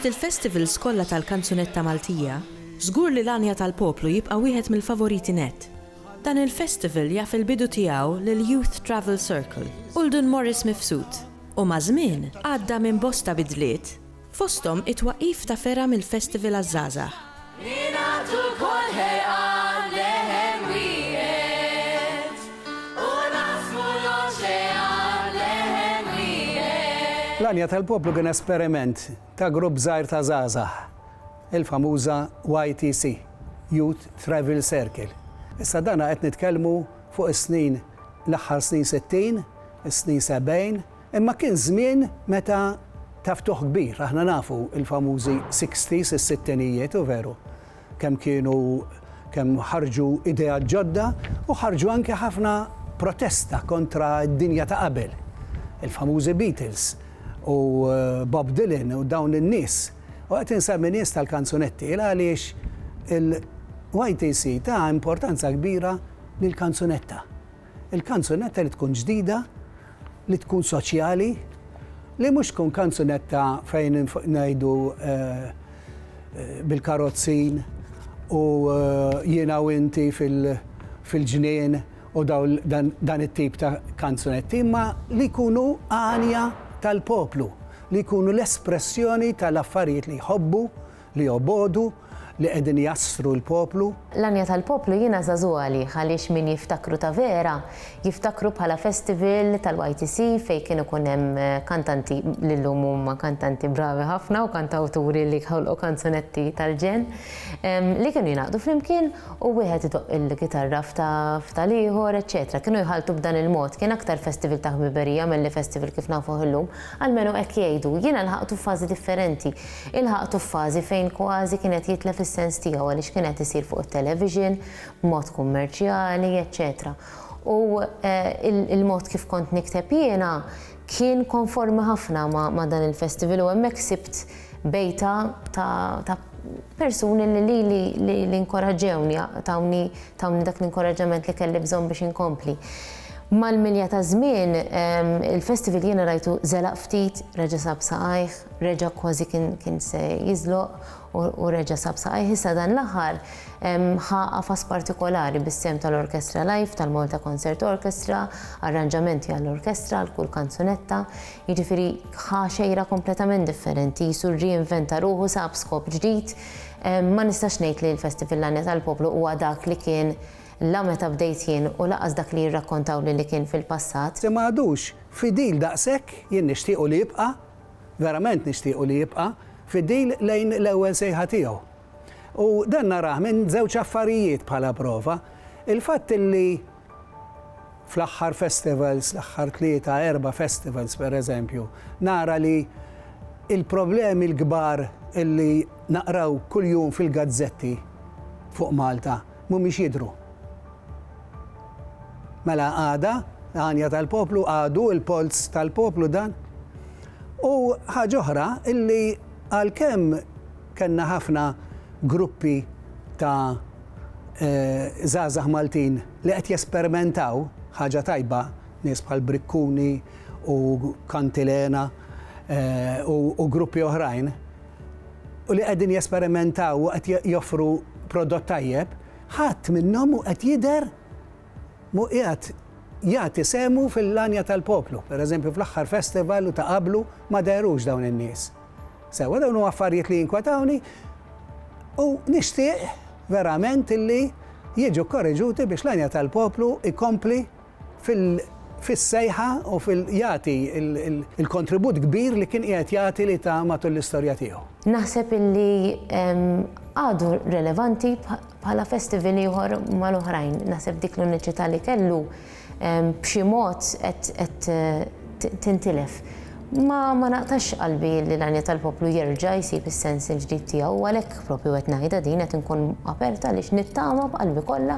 Fost il-festivals kollha tal-kanzunetta Maltija, żgur li l-Għanja tal-Poplu jibqa' wieħed mill-favoriti nett. Dan il-festival jaf il-bidu tiegħu lill-Youth Travel Circle u 'l Dun Morris Mifsud. u maż-żmien għadda minn bosta bidliet, fosthom it-twaqqif ta' fergħa mill-Festival għaż-Żgħażagħ. Ningħaqdu lkoll ħerqan leħen wieħed u naqsmu l-oċean leħen wieħed. L-għanja tal-poplu kien esperiment ta' grupp żgħir ta' żgħażagħ, il-famuża YTC, Youth Travel Circle. Issa dana qed nitkellmu fuq is-snin l-aħħar snin sittin, is-snin sebgħin, imma kien żmien meta ta' ftuħ kbir. Aħna nafu l-famużi sixties, is-sittinijiet, hu veru, kemm kienu kemm ħarġu ideat ġodda u ħarġu anke ħafna protesta kontra d-dinja ta' qabel. Il-famużi Beatles u Bob Dylan u dawn in-nies. U qed insemmi nies tal-kanzunetti għaliex il-YTC ta importanza kbira Lill-kanzunetta. Il-kanzunetta li tkun ġdida, li tkun soċjali, li mhux tkun kanzunetta fejn ngħidu bil-karozzin u jiena u inti fil-ġnien u dan it-tip ta' kanzunetti, imma li jkunu għanja tal-poplu, li jkunu l-espressjoni tal-affarijiet li jħobbu, Li jobogħdu, li qegħdin jassru l-poplu. L-għanja tal-poplu jiena żagħżugħ għalih għaliex min jiftakru ta' vera jiftakru bħala festival tal-YTC fejn kien ikun hemm kantanti li llum huma kantanti bravi ħafna u kantawturi li ħolqu kanzunetti tal-ġenn li kienu jingħaqdu flimkien u wieħed idoqq il-kitarra f'tal-ieħor eċċetera. Kienu jħalltu b'dan il-mod. Kien aktar festival ta' ħbiberija milli festival kif nafuh illum. Almenu hekk jgħidu. Jiena lħaqtu f'fażi differenti. Ilħaqtu f'fażi fejn kważi kien qed jitlef is-sens tiegħu għaliex kien qed isir fuq it-television, b'mod kummerċjali, eċċetera U l-mod kif kont nikteb jiena kien konformi ħafna ma' dan il-festival u hemmhekk sibt bejta ta' persuni li lili li nkoraġġewni, tawni dak l-inkoraġġament li kelli bżonn biex inkompli. Mal-milja taż-żmien, il-festival jiena rajtu żelaq ftit, reġa' sab saqajh, Reġa' kważi kien se jiżloq u reġa' sab saqajh issa dan l-aħħar ħa qafas partikolari bis-sehem tal-Orkestra Live tal-Malta Concert Orchestra, arranġamenti għall-orkestra għal kull kanzunetta, jiġifieri ħa xejra kompletament differenti, qisu rreinventa ruħu sab skop ġdid. Ma nistax ngħid li l-Festival L-Għanja tal-Poplu huwa dak li kien la meta bdejt jien u lanqas dak li jirrakkontawli li kien fil-passat. Se ma għadux fidil daqshekk, jien nixtiequ li jibqa' Verament nixtiequ li jibqa' fidil lejn l-ewwel sejħa tiegħu. U dan narah minn żewġ affarijiet bħala prova, il-fatt li fl-aħħar festivals, l-aħħar tlieta, erba' festivals pereżempju, nara li l-problemi l-kbar li naqraw kuljum fil-gazzetti fuq Malta, mhumiex jidhru. Mela għada l-għanja tal-poplu, għadu l-polz tal-poplu dan. U ħaġa oħra illi għalkemm kellna ħafna gruppi ta' żgħażagħ Maltin li qed jesperimentaw, ħaġa tajba, nies bħal Briccuni u Cantilena u gruppi oħrajn, u li qegħdin jesperimentaw u qed joffru prodott tajjeb, ħadd minnhom mhu qed jidher, mhu qiegħed jagħti sehmu fil-għanja tal-poplu. Per eżempju, fl-aħħar festival u ta' qablu ma dehrux dawn in-nies. Sewwa dawn huma affarijiet li jinkwetawni u nixtieq verament illi jiġu kkoreġuti biex l-għanja tal-poplu jkompli fis-sejħa u fil jagħti l-kontribut kbir li kien qiegħed jagħti li ta matul l-istorja tiegħu. Naħseb illi għadu relevanti bħala festival ieħor mal-oħrajn. Naħseb dik l-uniċità li kellu b'xi mod qed tintilef. Ma naqtax qalbi li l-għanja tal-poplu jerġa' jsib is-sens il-ġdid tiegħu u għalhekk propju qed ngħidha din qed inkun aperta għaliex nittama b'qalbi kollha